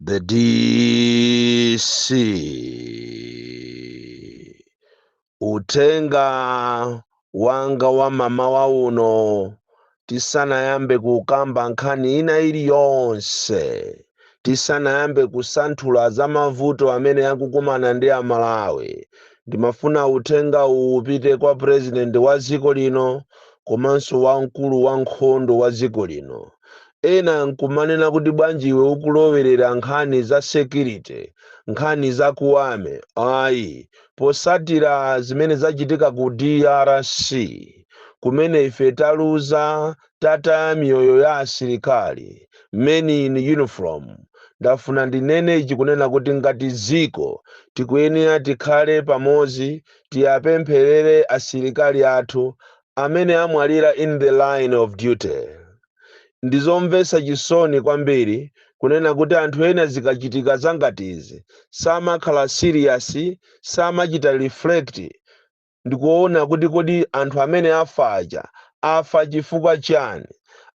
The DC uthenga wanga wa mamawa uno tisanayambe kukamba nkhani ina iliyonse tisanayambe kusanthula za mavuto amene akukumana ndi amalawi ndimafuna uthenga uwu upite kwa purezidenti wa dziko lino komanso wamkulu wa nkhondo wa dziko lino Ena nkumanena kuti bwanji iwe ukulowerera nkhani za security, nkhani za ku army. Ayi, posatira zimene zachitika ku drc kumene ife taluza, tataya miyoyo ya asilikali, men in uniform, ndafuna ndinene ichi kunena kuti ngati dziko tikuyenera tikhale pamodzi, tiapempherere asilikali athu, amene amwalira in the line of duty. Ndizomvetsa chisoni kwambiri kunena kuti anthu ena zikachitika zangati izi samakhala serious, samachita reflect ndikuona kuti kodi anthu amene afa aja afa chifukwa chani?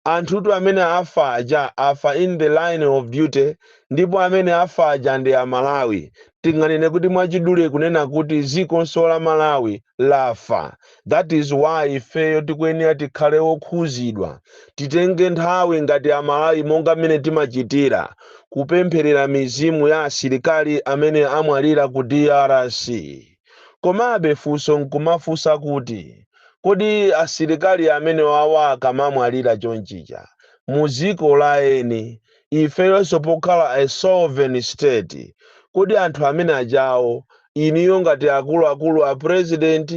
Anthutu amene afa aja afa in the line of duty ndipo amene afa aja ndi Amalawi tinganene kuti mwachidule kunena kuti ziko la malawi lafa that is why ifeyo tikuyenera tikhale okhuzidwa titenge nthawi ngati amalawi monga mmene timachitira kupempherera mizimu ya asilikali amene amwalira ku drc komabe funso nkumafunsa kuti kodi asilikali amenewawa akamamwalira chonchija mu dziko la eni ifeyonso pokhala a sovereign state kodi anthu amene ajawa inuyo ngati akuluakulu a president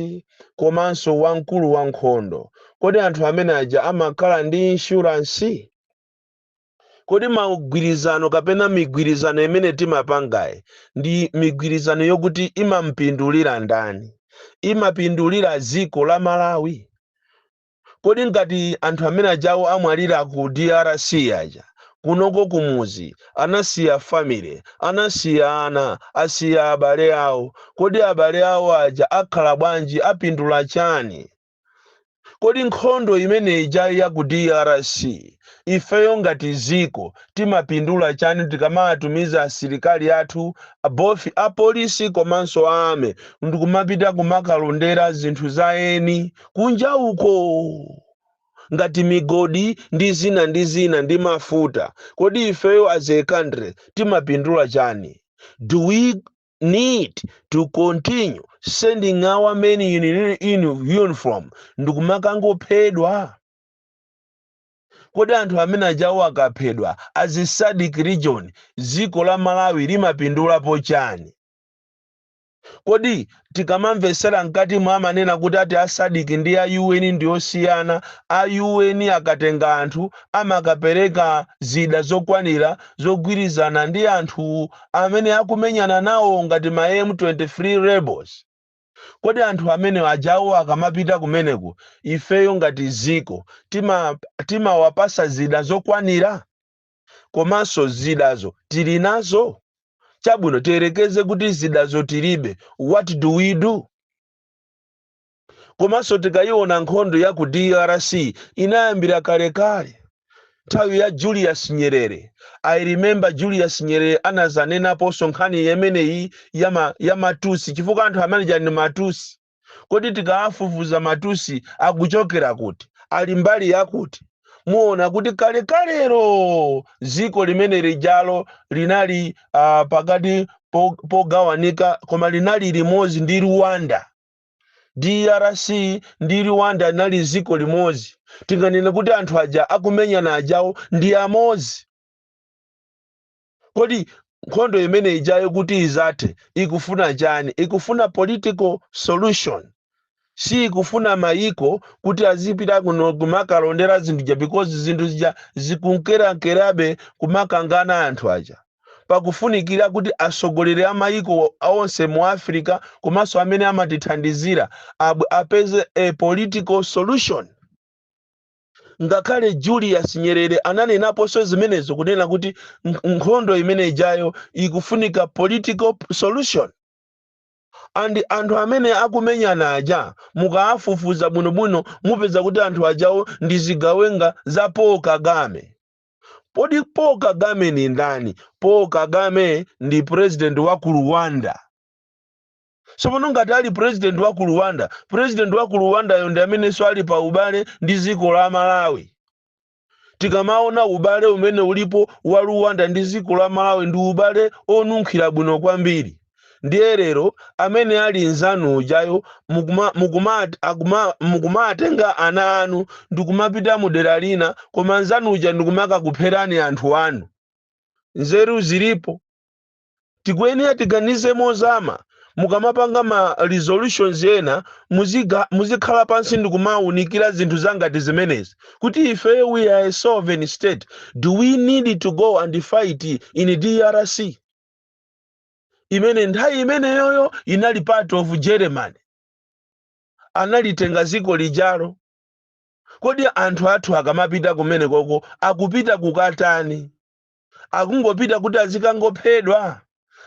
komanso wamkulu wa nkhondo kodi anthu amene aja amakhala ndi insurance kodi magwirizano kapena migwirizano imene timapangayi ndi migwirizano yokuti imampindulira ndani imapindulira dziko la malawi kodi ngati anthu amene ajawo amwalira ku drc aja kunoko kumuzi anasiya family anasiya ana asiya abale awo kodi abale awo aja akhala bwanji apindula chani kodi nkhondo imene ija ya ku drc ifeyo ngati ziko timapindula chani tikamawatumiza asilikali athu both apolisi komanso a army ndikumapita kumakalondera zinthu za eni kunja uko, ngati migodi ndi zina ndi zina ndi mafuta, kodi ifeyo as a country timapindula chani? Do we need to continue sending our men in, in uniform ndikumakangophedwa? Kodi anthu amene ajawo akaphedwa as a SADC region dziko la Malawi limapindulapo chani? Kodi tikamamvesera mkatimo amanena kuti ati a Sadc ndi a UN ndiosiyana, a UN akatenga anthu amakapereka zida zokwanira zogwirizana ndi anthu amene akumenyana nawo ngati ma M23 rebels. Kodi anthu amene ajawo akamapita kumeneko ifeyo ngati dziko timawapasa zida zokwanira? komanso zidazo tili nazo chabwino tiyerekeze kuti zidazo tilibe what do we do komanso tikayiona nkhondo ya ku drc inayambira kalekale nthawi ya julius nyerere i remember julius nyerere anazanenaponso nkhani imeneyi ya ma- ya matusi chifukwa anthu amene aja ndi matusi Kodi tikaafufuza matusi akuchokera kuti, ali mbali yakuti, muona kuti kalekalelo dziko limene lijalo linali uh, pakati po, pogawanika koma linali limodzi ndi Rwanda. DRC ndi Rwanda linali dziko limodzi. Tinganene kuti anthu aja akumenyana ajawo ndi amodzi. kodi nkhondo imene ijayo kuti izathe ikufuna chani ikufuna political solution si ikufuna mayiko kuti azipita kuno kumakalondera zinthu zija because zinthu zija zikunkerankerabe kumakangana anthu aja pakufunikira kuti atsogoleri a mayiko onse mu africa komanso amene amatithandizira abwere apeze a political solution ngakhale julius nyerere ananenaponso zimenezo kunena kuti n- nkhondo imene ijayo ikufunika political p- solution and anthu amene akumenyana aja mukaafufuza bwinobwino mupeza kuti anthu ajawo ndi zigawenga za paul kagame kodi paul kagame ndi ndani paul kagame ndi president wa ku rwanda tsopano ngati ali president wa ku rwanda president wa ku rwandayo ndi amenenso ali pa ubale ndi dziko la malawi tikamaona ubale umene ulipo wa rwanda ndi dziko la malawi ndi ubale onunkhira bwino kwambiri ndiye lero amene ali mzanu ujayo mukuma- mukuma- akuma- mukumatenga ana anu ndikumapita mu dera lina koma mzanu uja ndikumakakupherani anthu anu nzeru zilipo tikuyenera tiganize mozama mukamapanga ma resolutions ena muziga- muzikhala pansi ndikumawunikira zinthu za ngati zimenezi kuti ife we are a sovereign state do we need to go and fight in drc imene nthawi imeneyoyo inali part of germany analitenga dziko lijalo kodi anthu athu akamapita kumene koko akupita kukatani akungopita kuti azikangophedwa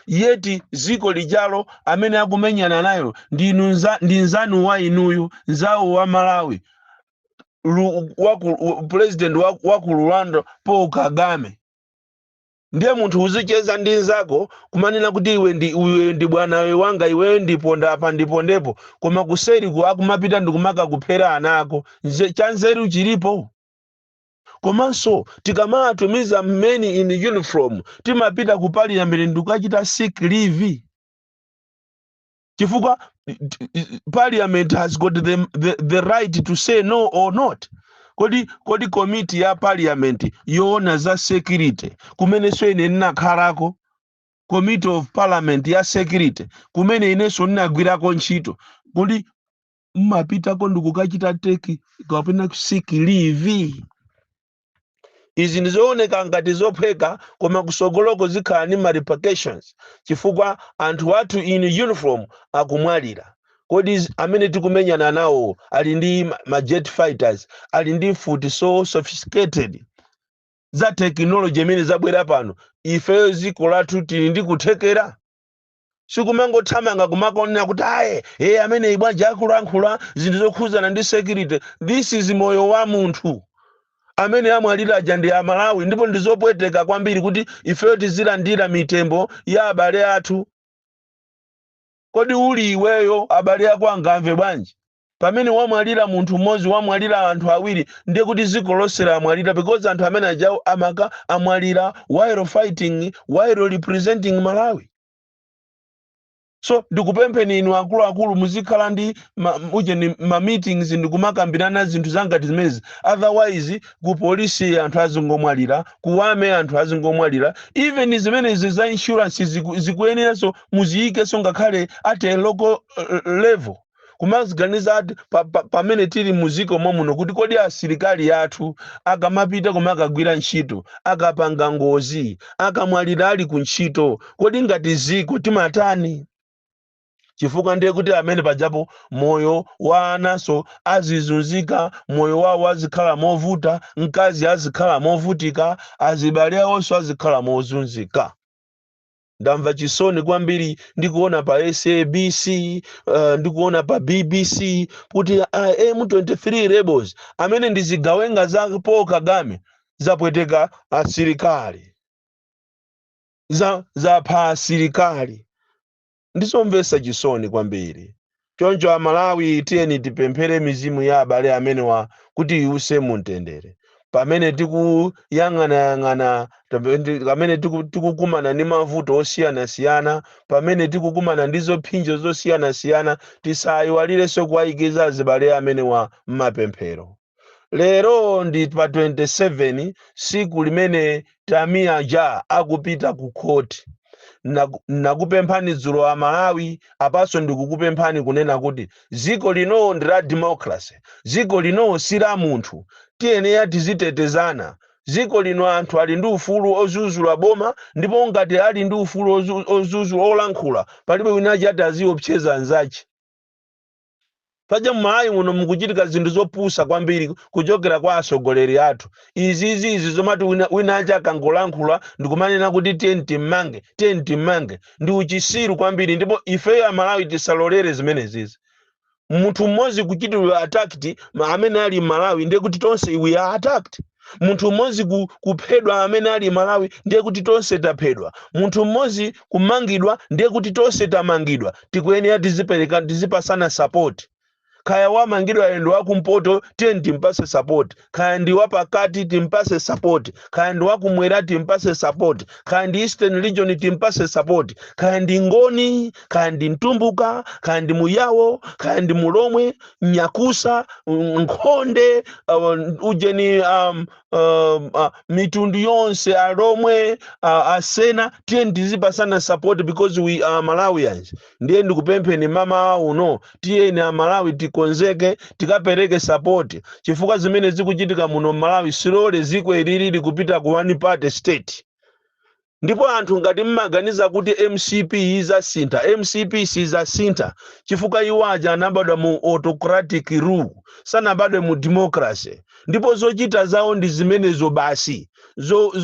yeti ziko lijalo amene akumenyana nayo ndi inu nza- ndi nzanu wa inuyu nzawo wa malawi Lu- wa ku- wa- president wa wa ku rwanda paul kagame ndiye munthu uzicheza ndi nzako kumanena kuti iwe ndi iwe ndi bwanawe wanga iweyo ndiponda apa ndipondepo koma kuseliku akumapita ndikumakakuphera ana ako Nze- chanzeru chilipo komanso tikamatumiza men in uniform timapita ku parliament ndikukachita seek leave chifukwa parliament has got the, the, the right to say no or not kodi kodi komiti ya parliament yoona za security kumenenso ine ndinakhalako committee of parliament ya security kumene inenso ndinagwirako ntchito kodi mmapitako ndikukachita teki kapena seek leave izi ndizooneka ngati zophweka koma kusogoloko zikhala ni ma repercussions chifukwa anthu athu in uniform akumwalira kodi z- amene tikumenyana nawo ali ndi ma ma jet fighters ali ndi mfuti so sophisticated za tekinoloji imene zabwera pano ifeyo dziko lathu tili ndi kuthekera sikumangothamanga kumakonena kuti ayi e ameneyu bwanji akulankhula zinthu zokhuzana ndi security this is moyo wa munthu amene amwalira aja ndi amalawi ndipo ndizopweteka kwambiri kuti ifeyo tizilandira mitembo ya abale athu kodi uli iweyo abale ako angamve bwanji Pamene wamwalira munthu mmodzi wamwalira anthu awiri ndiye kuti ziko lonse lamwalira because anthu amene ajawo amaka amwalira while fighting while representing Malawi. So ndikupempheni inu akuluakulu muzikhala ndi ma, ujeni ma meetings ndikumakambirana zinthu za ngati zimenezi otherwise ku polisi anthu azingomwalira ku army anthu azingomwalira even zimenezi za insurance ziku, zikuyeneranso muziyikenso ngakhale at a local eh, level kumaziganiza ati pa- pa- pamene tili muziko momuno kuti kodi asilikali athu akamapita koma akagwira ntchito akapanga ngozi akamwalira ali ku ntchito kodi ngati ziko timatani chifukwa ndiye kuti pamene pajapo moyo wa ananso azizunzika moyo wawo azikhala movuta mkazi azikhala movutika azibale awonso azikhala mozunzika ndamva chisoni kwambiri ndikuwona pa sabc uh, ndikuona pa bbc kuti uh, m23 rebels amene ndi zigawenga za paul kagame zapweteka asilikali za zapha asilikali ndizomvetsa chisoni kwambiri Choncho a Malawi tiyeni tipemphere mizimu ya abale amenewa kuti iwuse mu mtendere. Pamene tikuyang'anayang'ana, pamene tikukumana ndi mavuto osiyanasiyana, pamene tikukumana ndi zophinjo zosiyanasiyana, tisaiwalirenso kuwaikiza azibale amenewa m'mapemphero. lero ndi pa 27 siku limene tamiya ja akupita ku khoti Naku- nakupemphani dzulo a malawi apanso ndikukupemphani kunena kuti dziko lino ndi la democracy dziko lino si la munthu tiyenera tizitetezana dziko lino anthu ali ndi ufulu ozuzula boma ndipo ngati ali ndi ufulu ozu- ozuzula olankhula palibe wina achati aziopseza anzache paja mmalawi muno mukuchitika zinthu zopusa kwambiri kuchokera kwa asogoleri athu izizi izi zomati wina, wina aja akangolankhula ndikumanena kuti tiyeni timmange tiyeni timmange ndi uchisiru kwambiri ndipo ifeyo amalawi tisalolere zimenezizi munthu mmodzi kuchitiridwa attacked ma- amene ali mmalawi ndiye kuti tonse we are attacked munthu mmodzi ku- kuphedwa amene ali mmalawi ndiye kuti tonse taphedwa munthu mmodzi kumangidwa ndiye kuti tonse tamangidwa tikuyenera tizipereka tizipasana sapoti kaya wamangidwa yendo wakumpoto tiyeni timpase sapoti kaya ndi wapakati timpase sapoti kaya ndi wakumwera timpase sapoti kaya ndi eastern region timpase sapoti kaya ndi ngoni kaya ndi mtumbuka kaya ndi muyawo kaya ndi mulomwe nyakusa mm, nkhonde uh, ujeni um, um, uh, mitundu yonse alomwe uh, asena tiyeni tizipasana support because we are malawians ndiye ndikupempheni mmawa uno tiyeni amalawi tikonzeke tikapereke support chifukwa zimene zikuchitika muno malawi tsilole dziko ili likupita ku one party state Ndipo anthu ngati mmaganiza kuti mcp izasintha mcp sizasintha chifukwa iwo aja anabadwa mu autocratic rule sanabadwe mu democracy ndipo zochita zawo ndi zimenezo basi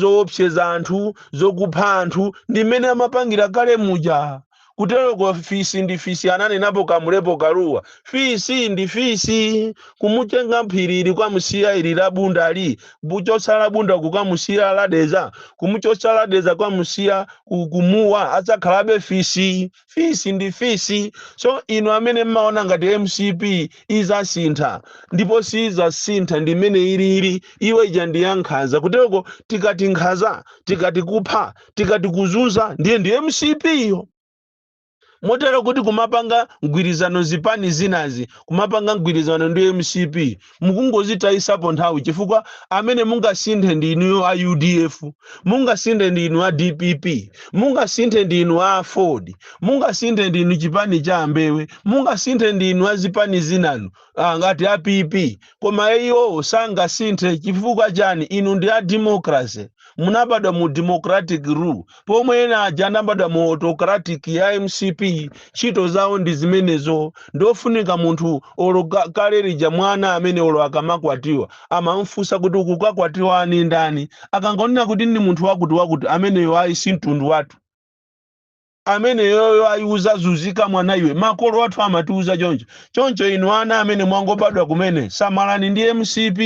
zowopseza anthu zokupha anthu ndi mmene amapangira kale muja. Kuteroko fisi ndi fisi ananenapo Kamulepo Kaluwa. Fisi ndi fisi. Kumutenga m'phiri ili kukamusiya ili la Bunda li, kumuchotsa la Bunda kukamusiya la Dedza, kumuchotsa la Dedza kukamusiya ku, ku Muwa adzakhalabe fisi. Fisi ndi fisi. So inu amene mmaona ngati mcp izasintha ndipo siizasintha ndi mmene ilili, iyo ija ndi ya nkhanza. Kuteroko tikati nkhanza, tikati kupha, tikati kuzunza ndiye ndi mcp iyo motero kuti kumapanga mgwirizano zipani zinazi kumapanga mgwirizano ndi mcp mukungozitayisapo nthawi chifukwa amene mungasinthe ndi inu a udf mungasinthe ndi inu a dpp mungasinthe ndi inu aford mungasinthe ndi inu chipani cha a mbewe mungasinthe ndi inu a zipani zinanu ah, ngati a pp koma iwowo sangasinthe chifukwa chani inu ndi a democracy munabadwa mu democratic rule pomwe ena aja anabadwa mu autocratic ya mcp ntchito zawo ndi zimenezo ndofunika munthu olo ka- kale lija mwana amene olo akamakwatiwa amamfunsa kuti ukukakwatiwa ndi ndani akangonena kuti ndi munthu wakuti wakuti ameneyo ayi si mtundu wathu ameneyoyo ayi uzazuzika mwana iwe makolo athu amatiuza choncho choncho inu ana amene mwangobadwa kumene samalani ndi mcp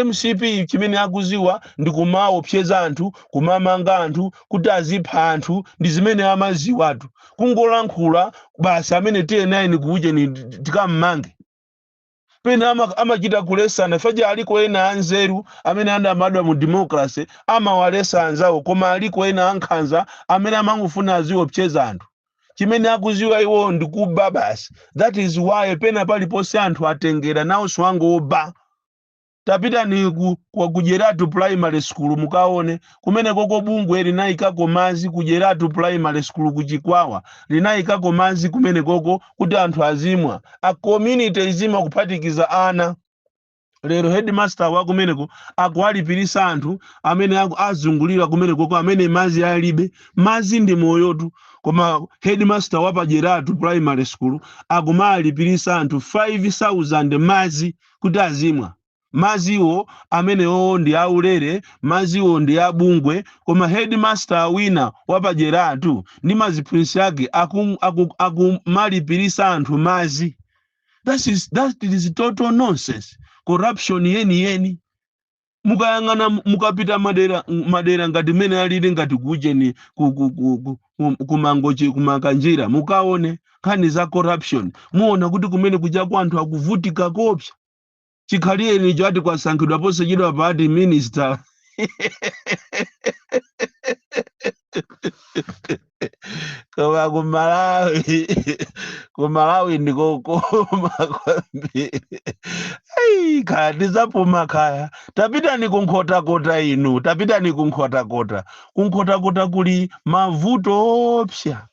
mcp chimene akuziwa ndi kumaopseza anthu kumamanga anthu kuti azipha anthu ndi zimene amaziwatu kungolankhula basi amene tnn kuujeni tikammange pena ama- amachita kulesana paja aliko ena anzeru amene anabadwa mu democracy amawalesa anzawo koma aliko ena ankhanza amene amangofuna aziopseza anthu chimene akuziwa iwo ndi kuba basi that is why pena paliponse anthu atengera nawonso angoba tapitani ku, ku, ku Jeratu primary school mukaone kumenekoko bungwe linayikako madzi ku Jeratu primary school ku Chikwawa linayikako madzi kumenekoko kuti anthu azimwa a community azimwa kuphatikiza ana lero headmaster wa kumeneko akuwalipirisa anthu amene aku- azungulira kumenekoko amene madzi alibe madzi ndi moyotu koma headmaster wa pajeratu primary school akumalipirisa anthu 5000 madzi kuti azimwa madziwo, amenewowo ndi aulere, madziwo ndi a bungwe, koma headmaster wina wa pa Jeratu ndi ma ziphunzitsi ake akum, akum, akumalipiritsa anthu madzi. That is, that is total nonsense, corruption yeniyeni. mukayang'ana mu- mukapita madera m- madera ngati mmene alili ngati kucheni ku- ku- ku- ku- ku- kumangochi kumakanjira mukaone nkhani za corruption muona kuti kumene kujaku anthu akuvutika kopsa chikhalireni icho ati kwasankhidwa posachedwapa ati minister koma ku malawi ku malawi ndikokoma kwambiri Ayi, kaya ndizapuma kaya tapitani ku nkhotakota inu tapitani ku nkhotakota ku nkhotakota kuli mavuto opsa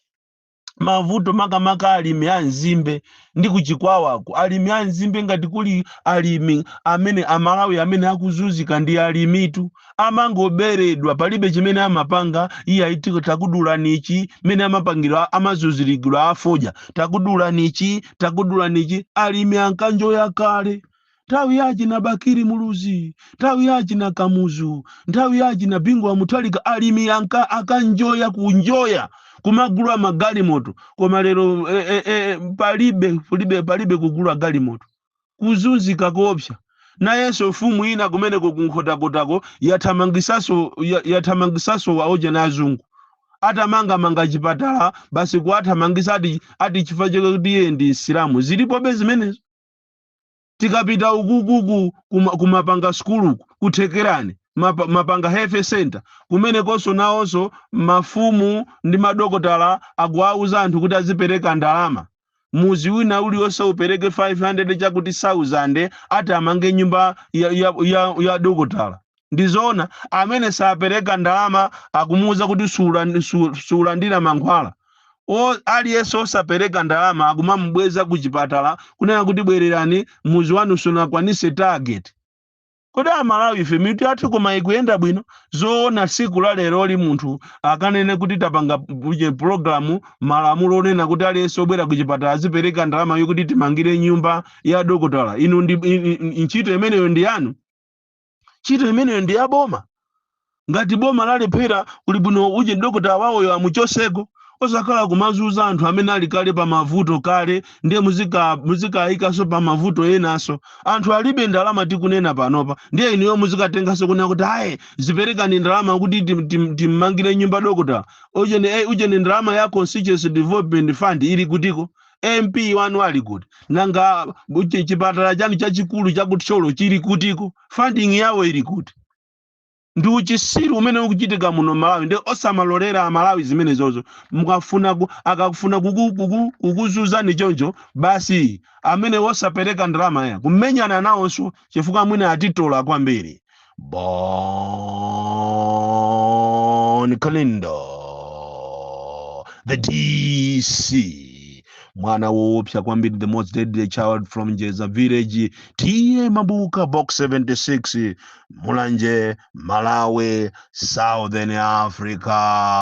mavuto makamaka alimi a nzimbe ndi ku Chikwawaku alimi a nzimbe ngati kuli alimi amene Amalawi amene akuzunzika ndi alimitu amangoberedwa palibe chimene amapanga iye ayi tikakudulani ichi mene amapangira amazunzilira afodya takudulani ichi takudulani ichi alimi ankanjoya kale nthawi ya achina bakiri muluzi nthawi ya achina kamuzu nthawi ya achina bingu wa muthalika alimi ankanjoya kunjoya kumagula magalimoto koma lero eh, eh, eh, palibe palibe palibe kugula galimoto kuzunzika koopsa nayenso mfumu ina kumeneko kunkhotakotako yathamangitsanso ya- yathamangitsanso aujeni azungu atamangamanga chipatala basi kuwathamangitsa ati ati chifukwa chake kuti iye ndi msilamu zilipobe zimenezo tikapita ukuku ku- kuma- kumapanga sukuluku ku Thekerani mapa- mapanga health center kumenekonso nawonso mafumu ndi madokotala akuwauza anthu kuti azipereka ndalama mudzi wina uliwonse upereke 500 wakuti 1000 ati amange nyumba ya, ya, ya, ya dokotala ndizoona amene sapereka ndalama akumuuza kuti sulan- su- suulandira mankhwala o aliyense osapereka ndalama akumamubweza ku chipatala kunena kuti bwererani mudzi wanu sunakwanitse target kodi amalawi ife mitu yathu koma ikuyenda bwino zoona tsiku la leroli munthu akanene kuti tapanga uje pulogalamu malamulo onena kuti aliyense obwera ku chipatala azipereka ndalama yokuti timangire nyumba ya dokotala inu ndi i- i- i- ntchito imeneyo ndi yanu ntchito imeneyo ndi ya boma ngati boma lalephera kuli bwino uje dokotala wawoyo amuchotseko osakhala kumazunza anthu amene ali kale pa mavuto kale ndiye muzika- muzikayikanso pa mavuto enanso anthu alibe ndalama tikunena panopa ndiye inuyo muzikatenganso kunena kuti ayi ziperekani ndalama kuti tim- tim- timmangire nyumba dokotala ujeni eh, ujeni ndalama ya constituency development fund ili kutiko mp wanu ali kuti nanga bu- chi- chipatala chanu chachikulu cha ku Thyolo chili kutiko funding yawo ili kuti ndi uchitsiru umene ukuchitika muno malawi ndiye osamalolera Amalawi zimenezozo mukafuna ku- akafuna kuku- kuku- kukuzunzani choncho basi amene wosapereka ndalama ya kumenyanani nawonso chifukwa amwene atitola kwambiri Bon Kalindo, the DC, mwana woopsa kwambiri, the most deadly child from Jeza village, TA Mabuka, box 76, Mulanje, Malawi, Southern Africa.